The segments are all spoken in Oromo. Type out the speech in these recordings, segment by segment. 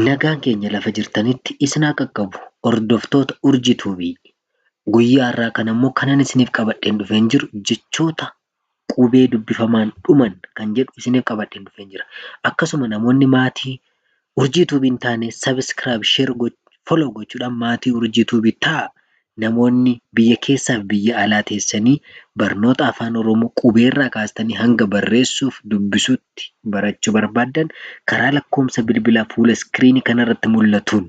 Nagaan keenya lafa jirtanitti isin haa qaqqabu hordoftoota Urjii Tube. Guyyaa har'aa kana immoo kanan isiniif qabadheen dhufeen jiru jechoota qubee dubbifamaan dhuman kan jedhu isiniif qabadheen dhufeen jira. Akkasuma namoonni maatii Urjii Tube hin taane subscribe, share, follow gochuudhaan maatii Urjii Tube ta'a Namoonni biyya keessaafi biyya alaa teessanii barnoota Afaan Oromoo qubeerraa kaastanii hanga barreessuufi dubbisuutti barachuu barbaaddan karaa lakkoofsa bilbilaa fuula iskiriinii kanarratti mul'atuun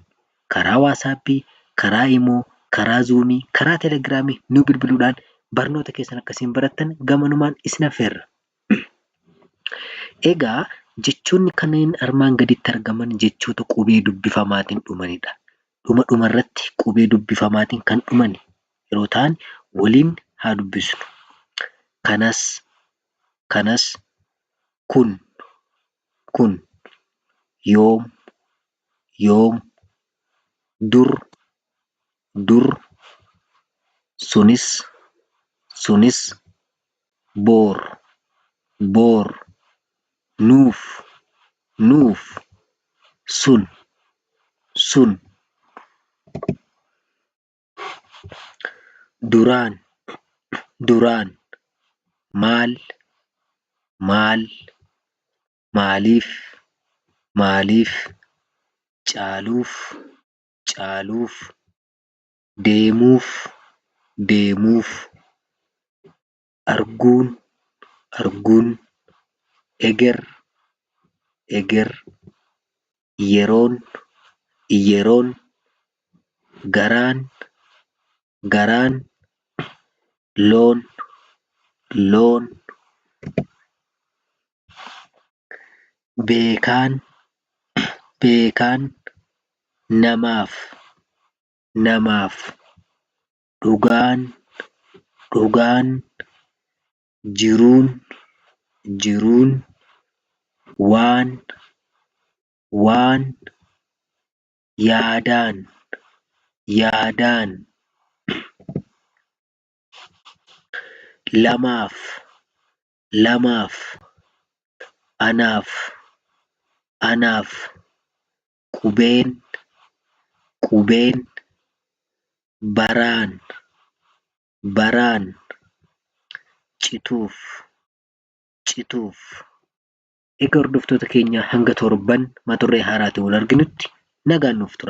karaa Waasaappii, karaa Imoo, karaa Zuumii, karaa Telegiraamii nu bilbiluudhaan barnoota keessan akka isin barattan gamanumaan isin affeerra. Egaa jechoonni kanneen armaan gaditti argaman jechoota qubee dubbifamaatiin dhumanidha. dhuma dhuma irratti qubee dubbifamaatiin kan dhuman yeroo ta'an waliin haa dubbisnu. kanas kanas kun kun yoom yoom dur dur sunis sunis. bor bor nuuf nuuf sun sun duraan duraan maal maal maaliif maaliif caaluuf caaluuf. deemuuf deemuuf arguun arguun eger eger yeroon yeroon garaan garaan loon loon beekaan beekaan namaaf namaaf dhugaan dhugaan jiruun jiruun waan waan yaadaan yaadaan lamaaf lamaaf anaaf anaaf qubeen qubeen baraan baraan cituuf cituuf Egaa hordoftoota keenya hanga torban mata duree haaraatiin wal arginutti nagaan nuuf tura.